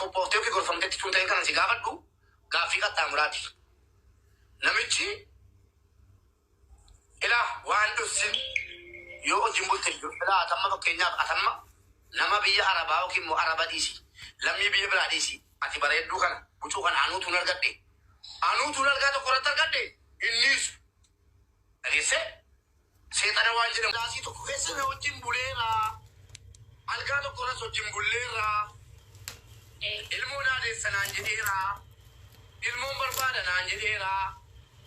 qophooftee yookiin gorfamtetti tun ta'e kana si gaafadhu gaaffii qaxxaamuraati. Namichi Ilaa waan dhossin yoo hojin bulte iyyuu ilaa at amma fakkeenyaaf at amma nama biyya arabaa yookiin immoo araba dhiisi lammii biyya biraa dhiisi ati bareedduu kana bucuu kana anuu tuun argadhe anuu tuun algaa tokko irratti argadhe hin dhiisu dhageessee seexana waan jedhamu daasii tokko keessa na wajjin buleera algaa tokko irras wajjin bulleera ilmoo naa deessa naan jedheera ilmoon barbaada naan jedheera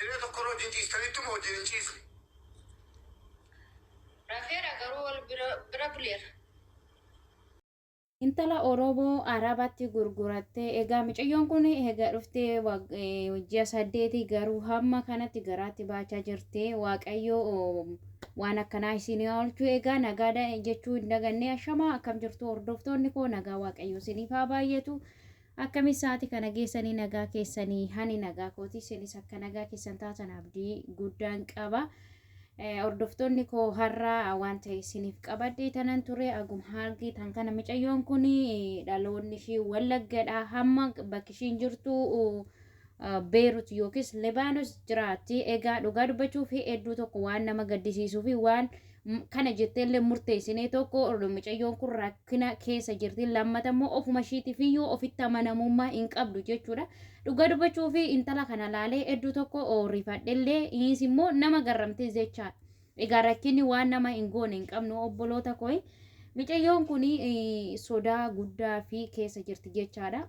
Diree tokkorra wajjin ciistaniittu moo wajjin hin ciisne? Rafeera garuu wal bira bira buleera. Intala Oromoo Arabatti gurgurattee egaa micayyoon kun egaa dhuftee wag- eh, ji'a saddeeti garuu hamma kanatti garaatti baachaa jirte waaqayyo oh, waan akkanaa isin haa oolchu egaa nagaa da- jechuu hin daganne ashamaa akkam jirtu hordoftoonni koo nagaa waaqayyo isiniif haa baay'atu Akkami sa'ati kana geessanii nagaa keessani hani nagaa kooti isinis akka nagaa keessan taatan abdii guddaan qaba hordoftoonni koo har'a waan ta'e isiniif qabadhee tanan ture agum haargii tan kana micayyoon kun dhaloonni ishii wallaggadha hamma bakki ishiin jirtu Beerut yookiis Libaanos jiraatti. Egaa dhugaa dubbachuuf hedduu tokko waan nama gaddisiisuu fi waan kana jettee illee murteessinee tokko mucayyoon kun rakkina keessa jirti. Lammata immoo ofuma ishiitiif iyyuu ofitti amanamummaa hin qabdu jechuudha. Dhugaa dubbachuu fi intala kana laalee hedduu tokko rifadhe illee innis immoo nama garramtee jechaa. Egaa rakkinni waan nama hin goone hin qabnu obboloota koi. Mucayyoon kun sodaa guddaa fi keessa jirti jechaadha.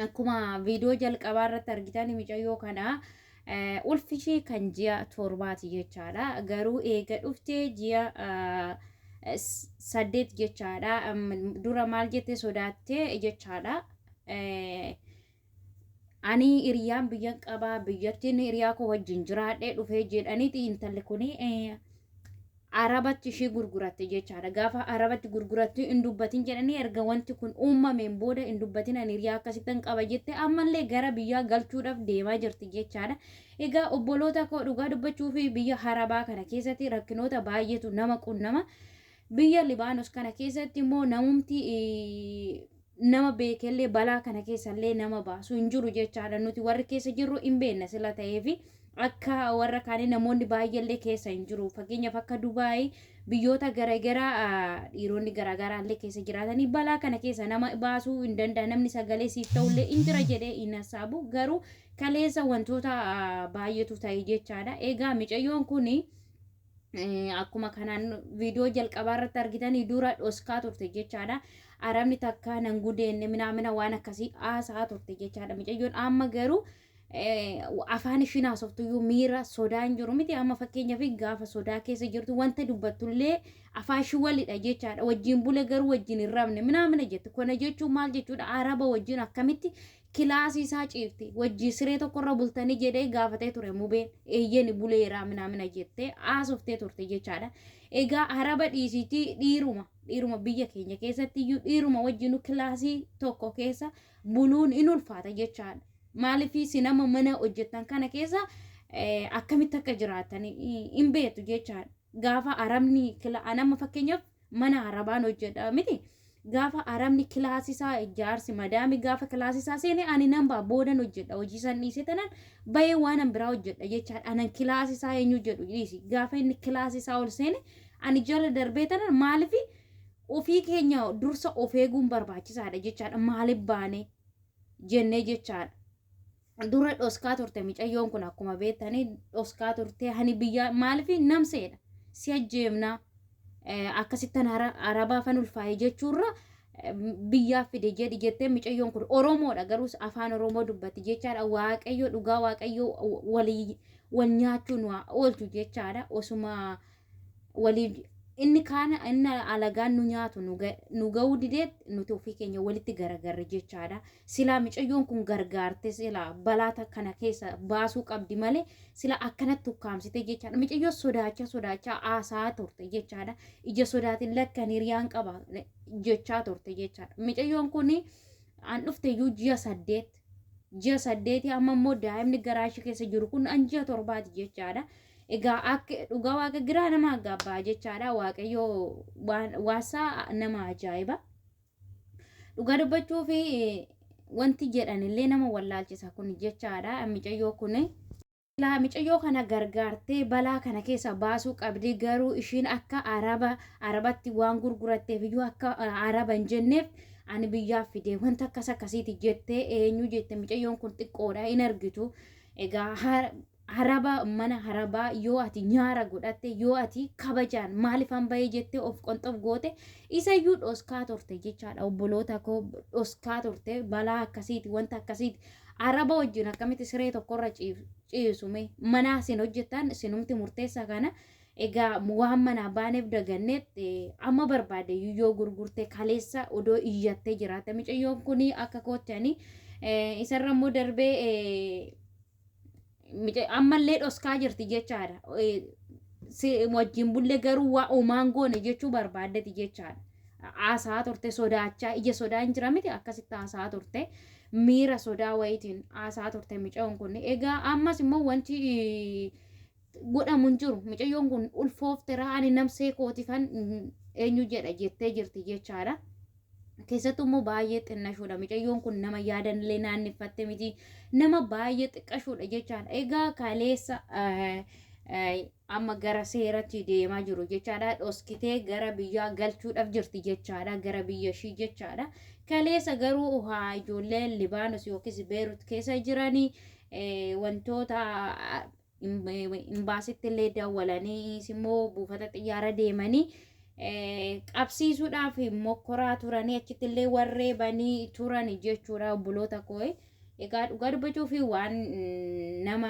akkuma viidiyoo jalqabaa irratti argitan micayyoo kana ulfi ishee kan ji'a torbaati jechaadha. Garuu eega dhuftee ji'a saddeet jechaadha. Dura maal jette sodaattee jechaadha. Ani hiriyaan biyyan qabaa biyyattiin hiriyaa koo wajjin jiraadhee dhufee jedhaniiti intalli kuni Arabatti ishii gurguratte jechaadha. Gaafa Arabatti gurgurattu hin dubbatin jedhanii erga wanti kun uumameen booda hin dubbatin ani hiriyaa akkasittan qaba jette ammallee gara biyyaa galchuudhaaf deemaa jirti jechaadha. Egaa obboloota koo dhugaa dubbachuu fi biyya Arabaa kana keessatti rakkinoota baay'eetu nama qunnama. Biyya Libaanos kana keessatti immoo namumti nama beekellee balaa kana keessallee nama baasu hin jiru jechaadha nuti warri keessa jirru hin beekna sila ta'eefi akka warra kaanii namoonni baay'eellee keessa hin jiru fakkeenyaaf akka Dubaayii biyyoota garaagaraa ah, dhiironni garaagaraallee keessa jiraatanii balaa kana keessa nama baasuu hin danda'a namni sagalee siif ta'ullee hin jira jedhee hin hassaabu garuu kaleessa wantoota ah, baay'eetu ta'e jechaadha egaa micayyoon kuni akkuma kanaan viidiyoo jalqabaa irratti argitanii dura dhoskaa turte jechaadha. Arabni takka nan gudeenne minaamina waan akkasii haasaa turte jechaadha. Mucayyoon amma garuu afaan ishiin haasoftuyyuu miira sodaan jiru miti amma fakkeenyaaf gaafa sodaa keessa jirtu wanta dubbattullee afaan ishii walidha jechaadha. Wajjin bule garuu wajjin hin rabne minaamina jette. Kana jechuun maal jechuudha? Araba wajjin akkamitti kilaasii isaa ciifte wajjii siree tokkorra bultanii jedhee gaafatee ture mubeen eeyyeni buleeraa minaamina jettee haasoftee turte jechaadha egaa haraba dhiisiitii dhiiruma dhiiruma biyya keenya keessatti iyyuu dhiiruma wajjinu kilaasii tokko keessa buluun in ulfaata jechaadha maaliif si nama mana hojjettan kana keessa akkamitti akka jiraatan in beektu jechaadha gaafa arabni kila an amma fakkeenyaaf mana arabaan hojjedha miti gaafa arabni kilaasisaa jaarsi madaami gaafa kilaasisaa seene ani nan ba'a boodan hojjedha hojii san dhiise tanan bayee waan an biraa hojjedha jechaan anan kilaasisaa eenyu jedhu dhiisi gaafa inni kilaasisaa ol seene ani jala darbee tanan maalifi ofii keenya dursa of eeguun barbaachisaadha jechaadha maaliif baane jennee jechaadha. dura dhoskaa turte micayyoon kun akkuma beektanii dhoskaa turte hani biyyaa maaliif namseedha si ajjeemnaa akkasittan arabaa fan ulfaa'e jechuurra biyyaaf fide jedhi jettee micayyoon kun oromoodha garuus afaan oromoo dubbatti jechaadha waaqayyo dhugaa waaqayyo walii wal nyaachuu nu oolchu jechaadha osuma waliif inni kaan inni alagaan nu nyaatu nu ga- nu ga'uu didee nuti ofii keenya walitti garagarre jechaadha. Silaa micayyoon kun gargaarte silaa balaa ta- kana keessa baasuu qabdi malee sila akkanatti ukkaamsite jechaadha. Micayyoo sodaachaa sodaachaa haasaa turte jechaadha. Ija sodaatiin lakkan hiriyaan qaba jechaa turte jechaadha. Micayyoon kun an dhufte iyyuu ji'a saddeet ji'a saddeeti amma immoo daa'imni garaa ishee keessa jiru kun an ji'a torbaati jechaadha. Egaa akka dhugaa waaqa giraa nama gaabbaa jechaadha waaqayyoo waan- waasaa nama ajaa'iba. Dhugaa dubbachuu fi wanti jedhan illee nama wallaalchisa kun jechaadha micayyoo kun. Silaa micayyoo kana gargaartee balaa kana keessa baasuu qabdi garuu ishiin akka araba arabatti waan gurguratteef iyyuu akka araba hin jenneef ani biyyaaf fide wanta akkas akkasiiti jettee eenyu jette micayyoon kun xiqqoodha hin argitu egaa haraba mana harabaa yoo ati nyaara godhatte yoo ati kabajaan maalifan bahee jettee of qonxof goote isayyuu dhoskaa turte jechaadha obboloota koo dhoskaa turte balaa akkasiiti wanta akkasiiti Araba wajjin akkamitti siree tokkorra ciif- ciisu mee? Manaa isin hojjettan isinumti murteessaa kana egaa waan manaa baaneef daganneet eh, amma barbaade iyyuu yoo gurgurte kaleessa odoo iyyattee jiraatte micayyoon kuni akka kootti ani eh, isarra immoo darbee eh, Mica- ammallee dhoskaa jirti jechaadha Eh, si wajjin bulle garuu waa omaan goone jechuu barbaaddeti jechaadha haasaa turte sodaachaa ija sodaa hin jira miti akkasitti haasaa turte miira sodaa wayitiin haasaa turte micayoon kun egaa ammas immoo wanti eh, godhamu hin jiru micayyoon kun ulfooftera ani namsee kootifan mm, eenyu jedha jettee jirti jechaadha keessattuu immoo baay'ee xinnashuudha. Micayyoon kun nama yaadanillee naanneffatte miti. Nama baay'ee xiqqashuudha jechaadha. Egaa kaleessa eh, eh, amma gara seeratti deemaa jiru jechaadha. Dhoskitee gara biyyaa galchuudhaaf jirti jechaadha. Gara biyya ishii jechaadha. Kaleessa garuu haa ijoolleen Libaanos yookiis Beerut keessa jiranii eh, wantoota ah, Imbaasitti illee dawwalanii immoo buufata xiyyaara deemanii qabsiisuudhaaf mokkoraa turanii achitti illee warree banii turan jechuudha obboloota koo. Egaa dhugaa dubbachuu fi waan nama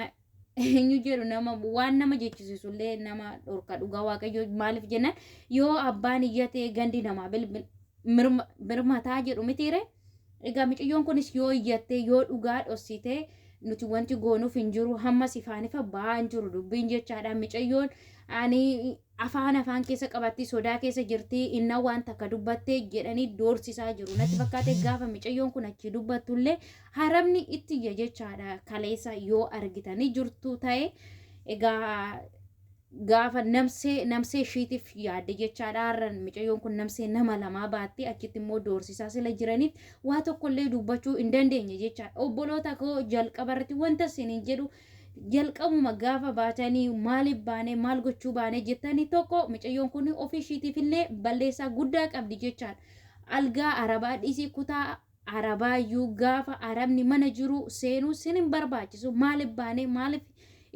eenyu jedhu nama waan nama jechisiisu illee nama dhorka dhugaa waaqayyoo maaliif jennaan yoo abbaan iyyate gandi namaa birmataa jedhu mitiire. Egaa miciyyoon kunis yoo iyyattee yoo dhugaa dhossitee nuti wanti goonuuf hin jiru hammas ifaan ifa ba'aa hin jiru dubbiin jechaadha micayyoon ani afaan afaan keessa qabattii sodaa keessa jirtii inna waan takka dubbattee jedhanii doorsisaa jiru natti fakkaate gaafa micayyoon kun achii dubbattullee harabni itti iyya jechaadha kaleessa yoo argitanii jirtu ta'e egaa gaafa namsee namsee ishiitiif yaadde jechaadha har'a micayyoon kun namsee nama lamaa baattee achitti immoo doorsisaa sila jiraniif waa tokko illee dubbachuu hin dandeenye jechaadha obboloota koo jalqaba irratti wanta isin hin jedhu jalqabuma gaafa baatanii maaliif baanee maal gochuu baanee jettanii tokko micayyoon kun ofii ishiitiif illee balleessaa guddaa qabdi jechaadha algaa arabaa dhiisii kutaa Arabaayyuu gaafa Arabni mana jiruu seenuu sin hin barbaachisu maalif baanee maalif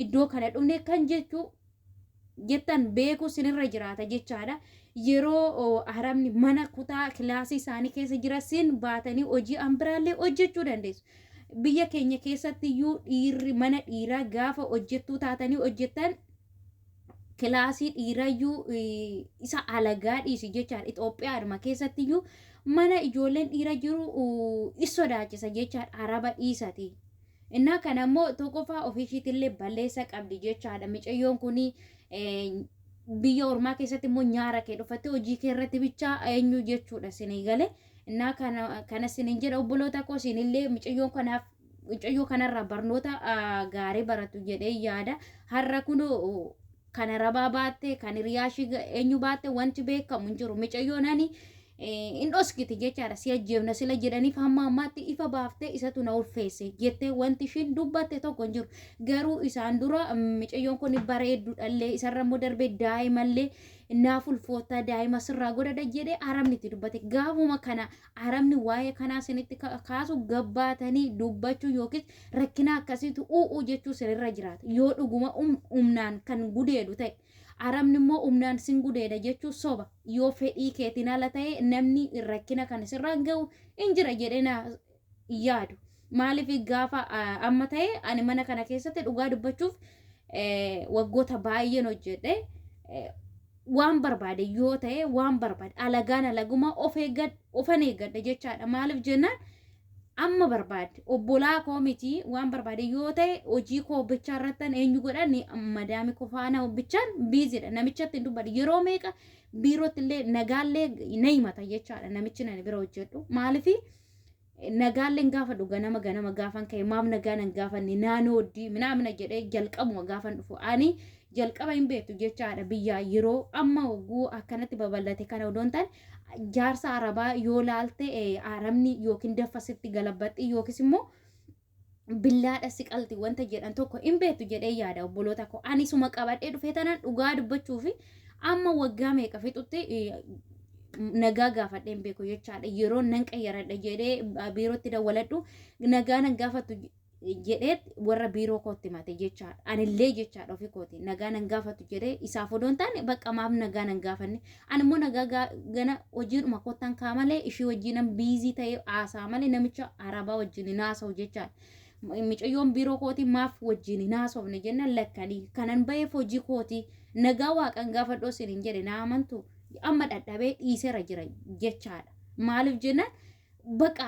iddoo kana dhufne kan jechuu jettan beekuu sinirra jiraata jechaadha. Yeroo oo, Arabni mana kutaa kilaasii isaanii keessa jira sin baatanii hojii an biraallee hojjechuu dandeessu. Biyya keenya keessatti iyyuu dhiirri mana dhiiraa gaafa hojjettuu taatanii hojjettan kilaasii dhiirayyuu isa alagaa dhiisi jechaadha. Itoophiyaadhuma keessattiyyuu mana ijoolleen dhiira jiru is sodaachisa jechaadha. Araba dhiisati. Innaa kana immoo tokkoffaa ofiishiitillee balleessa qabdi jechaadha. Micayyoon kun biyya ormaa keessatti immoo nyaara kee dhufattee hojii kee irratti bichaa eenyu jechuudha sinii galee. Innaa kana kanas sinin jedha obboloota koo sinillee micayyoon kanaaf mucayyoo kanarraa barnoota gaarii baratu jedhee yaada. Har'a kunoo kan arabaa baatte, kan hiriyaa ishii eenyu baatte wanti beekamu hin jiru. Mucayyoon ani hin dhoskiti jechaadha. Si ajjeefna sila jedhaniif hamma ammaatti ifa baaftee isatu na ulfeesse jettee wanti ishiin dubbatte tokko hin jiru. Garuu isaan dura mucayyoon kun bareedduudhallee isarra immoo darbee daa'imallee naaf ulfoottaa daa'ima sirraa godhadha jedhee arabni itti dubbate. Gaafuma kana Arabni waa'ee kanaa sinitti ka- kaasu gabbaatanii dubbachuu yookiis rakkina akkasiitu u'uu jechuu sinirra jiraata. Yoo dhuguma um- humnaan kan gudeedu ta'e. Arabni immoo humnaan sin gudeeda jechuu soba. Yoo fedhii keetiin ala ta'e namni rakkina kan isirraan ga'u hin jira jedhee na hin yaadu. Maaliif gaafa ah, amma ta'e ani mana kana keessatti dhugaa dubbachuuf eh, waggoota baay'een hojjedhe. Eh, waan barbaade yoo ta'e waan barbaade alagaan alaguma of eeggad ofan eeggadha jechaadha maaliif jennaan amma barbaade obbolaa koo miti waan barbaade yoo ta'e hojii koo bichaa irrattan eenyu godha ni madaami koo faana bichaan biizidha namichatti hin dubbadhu yeroo meeqa biirootti illee nagaallee na himata jechaadha namichi nani bira hojjedhu maaliif Nagaalleen gaafadhu ganama ganama gaafan ka'e maaf nagaa nan gaafanne naanoo oddii minaamina jedhee jalqabuma gaafan dhufu ani jalqaba hin beektu jecha haadha biyyaa yeroo amma oguu akkanatti babal'ate kana odoon ta'an jaarsa arabaa yoo laalte eh, arabni yookiin daffa sitti galabbaxxi yookiis immoo billaadha siqalti wanta jedhan tokko hin beektu jedhee yaada obboloota koo ani suma qabadhee dhufee tanaan dhugaa dubbachuu fi amma waggaa meeqa fixutti nagaa gaafadhee hin beeku jechaadha yeroo nan qayyaradha jedhee biirootti dawwaladhu nagaa nan gaafattu jedhee warra biiroo kootti mate jechaadha anillee jechaadha ofii kooti nagaa nan gaafattu jedhee isaaf odoo hin taane bakka maaf nagaa nan gaafanne Ani immoo nagaa gaa- gana hojiidhuma kottan kaa malee ishii wajjiinan biizii ta'ee haasaa malee namicha arabaa wajjin hin haasa'u jechaan. Micayyoon biiroo kootii maaf wajjin hin haasofne jennaan lakkanii kanan ba'eef hojii kootii nagaa waaqan gaafadhu isin hin jedhe naa amantu amma dhadhabee dhiisera jira jechaadha. Maaliif jennaan baqa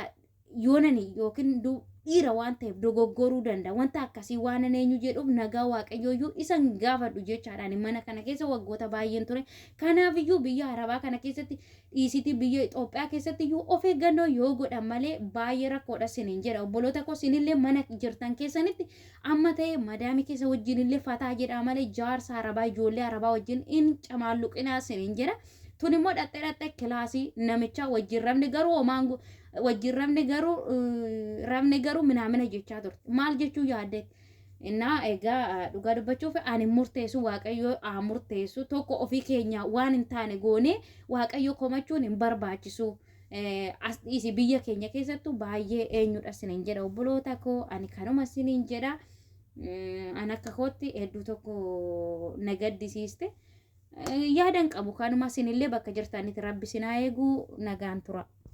yoonani yookiin dhiira waan ta'eef dogoggoruu danda'a. Wanta akkasii waan an eenyu jedhuuf nagaa waaqayyooyyuu isan gaafadhu jechaadhaan mana kana keessa waggoota baay'een ture. Kanaafiyyuu biyya Arabaa kana keessatti dhiisitii biyya Itoophiyaa keessatti iyyuu of eeggannoo yoo godhan malee baay'ee rakkoodha sinin jedha. Obboloota koo sinillee mana jirtan keessanitti Amma ta'e madaami keessa wajjin illee fataa jedhaa malee jaarsa arabaa ijoollee arabaa wajjin in camaalluqinaa sinin jedha. Tun immoo dhaqxe dhaqxe kilaasii namichaa wajjin rabne garuu homaan go- wajjin rabne garuu eh, rabne garuu minaamina jechaa turte. Maal jechuu yaadde? Innaa egaa eh, dhugaa dubbachuuf ani hin murteessu waaqayyo haa murteessu tokko ofii keenya waan hin taane goonee waaqayyo komachuun hin barbaachisu. as dhiisi biyya keenya keessattu baay'ee eenyudha sinin jedha obboloota koo ani kanuma sinin jedha an akka kootti hedduu tokko na gaddisiiste yaadan qabu kanuma sinillee bakka jirtanitti rabbi sinaa eeguu nagaan tura.